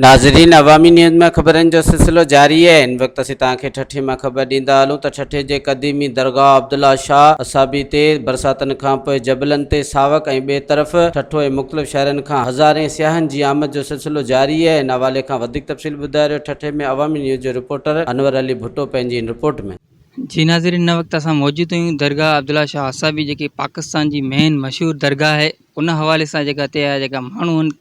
ناظرين عوامي نيوز ۾ خبرن جو سلسلو جاري آهي ان وقت اسين توهان کي ٺٽي مان خبر ڏيندا هلون ته ٺٽي جي قديمي درگاهه عبدالله شاهه اصابي تي برساتن کانپوء جبلن تي ساوڪ ۽ ٻئي طرف ٺٽو ۽ مختلف شهرن کان هزارين سياحن جي آمد جو سلسلو جاري آهي ان حوالي کان وڌيڪ تفصيل ٻڌائي رهيو ٺٽي ۾ عوامي نيوز جو رپورٽر انور علي ڀٽو پنهنجي ان رپورٽ ۾. جي ناظرين ان وقت اسان موجود آهيون درگاهه عبدالله شاهه حسابي جيڪي پاڪستان جي مين مشهور درگاهه آهي ان حوالي سان جيڪا هتي جا جيڪا ماڻهو آهن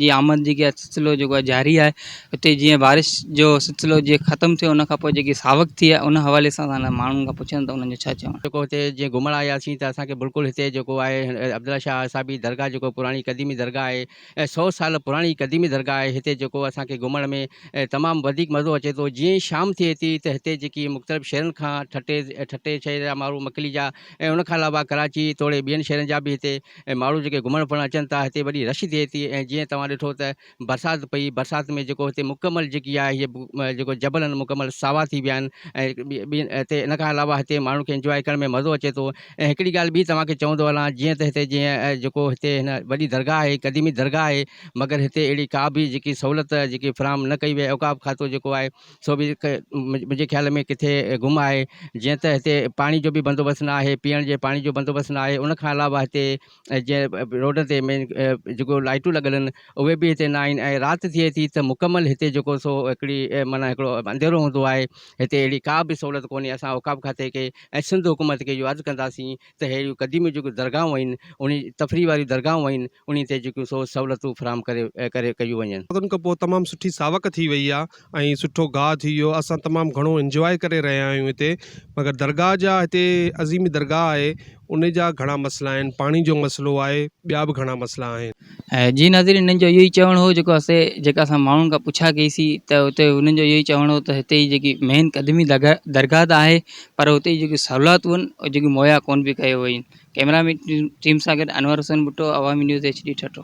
جي آمد جيڪي آهي سلسلو جيڪو آهي جاري آهي هتي جيئن بارش جو سلسلو جيئن ختم ٿيو ان کان پوء جيڪي ساوڪ ٿي آهي ان حوالي سان اسان هنن ماڻهن کان پڇيون ته انهن جو ڇا چوڻ جيڪو هتي جيئن گهمڻ آياسين ته اسان کي بلڪل هتي جيڪو آهي عبدالله شاهه حسابي درگاهه جيڪو پراڻي قديمي درگاهه آهي سو سال پراڻي قديمي درگاهه آهي هتي جيڪو اسان کي گهمڻ ۾ تمام وڌيڪ مزو اچي ٿو جيئن ئي شام ٿئي ٿي ته هتي جيڪي مختلف شهرن کان ٺٽي ٺٽي شهر جا ماڻهو مڪلي جا ۽ ان کان علاوه ڪراچي توڙي ٻين شهرن جا به هتي ماڻهو جيڪي گهمڻ ڦرڻ اچن ٿا هتي وڏي رش ٿئي ٿي ۽ جيئن توهان ڏٺو ته برسات پئي برسات ۾ جيڪو هتي مڪمل جيڪي آهي هي جيڪو جبل آهن مڪمل ساوا ٿي ويا آهن ۽ ان کان علاوه هتي ماڻهن کي انجواء ڪرڻ ۾ مزو اچي ٿو ۽ هڪڙي ڳالهه ٻي توهان کي چوندو هلان جيئن ته هتي جيئن جيڪو هتي هن وڏي درگاهه آهي قديمي درگاهه آهي مگر هتي اهڙي ڪا به جيڪي سهولت جيڪي فراهم نه ڪئي وئي آهي اوقاف کاتو جيڪو آهي سو به منهنجي خيال ۾ ڪٿي گم آهي جيئن ته هتي پاڻي جو به بندوبست نه آهي پيئڻ جي پاڻي جو بندوبست نه آهي ان کان علاوه هتي ۽ جيئن روڊن تي مين جيڪو لائيٽون لڳل آهن اهي به هتي ناهن ۽ رات ٿئي ٿي ته مڪمل هتي جيڪو سو هڪڙي معنيٰ هڪڙو انڌيرو هوندو آهي هتي اهڙي ڪا به سهولت ڪونهي اسان اوقاف کاتي کي ۽ سنڌ حڪومت کي اهو عرض ڪنداسين ته اهڙيون قديميون جيڪو درگاهون آهن انهي تفريح واريون درگاهون آهن انهي تي جيڪيون سو سهولتون فراهم ڪري ڪري ڪيون وڃن. ان کان پوء تمام سٺي ساوڪ ٿي وئي آهي ۽ سٺو گاهه ٿي ويو اسان تمام گهڻو انجواء ڪري رهيا آهيون هتي مگر درگاهه جا هتي عظيم درگاهه آهي ان جا گهڻا مسئلا آهن پاڻي جو مسئلو آهي ٻيا به گهڻا مسئلا آهن. جي ناظرين هنن جو اهو ئي چوڻ هو جيڪو اسي جيڪا اسان ماڻهن کان پڇا ڪئي سي ته هتي هنن جو اهو ئي چوڻ هو ته هتي جي جيڪي مين قديمي درگاهه ته آهي پر هتي جي جيڪي سهولاتون هن اهي جيڪي مهيا ڪون پئي ڪيو وئين ڪئميرا مين ٽيم سان گڏ انور حسين ڀٽو عوامي نيوز HD ٺٽو.